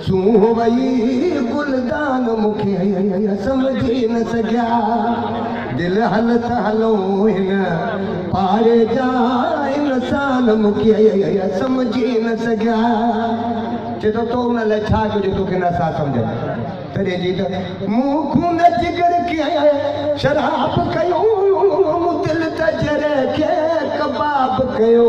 سونهن وئي گلدان مون کي سمجهي نه سگهيا دل هل ته هلون هن پاڙي جا انسان مون کي سمجهي نه سگهيا چئي ٿو تو ان لاء ڇا ڪجهه توکي نه سا سمجهن تڏهن جي ته مون خون جگر کي شراب ڪيو مون دل ته جرح کي ڪباب ڪيو.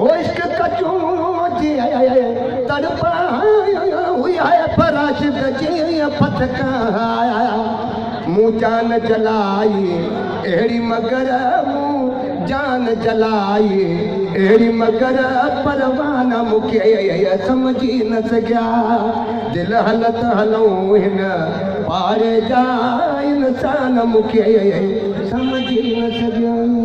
هو عشق ڪجون جي تڙپايا هئي هاء فراشد جي ڦٿڪا آيا مون جان جلائي اهڙي مگر مون جان جلائي اهڙي مگر پروانا مون کي سمجهي نه سگهيا دل هلت هلون هن پاڙي جا انسان مون کي سمجهي نه سگهيا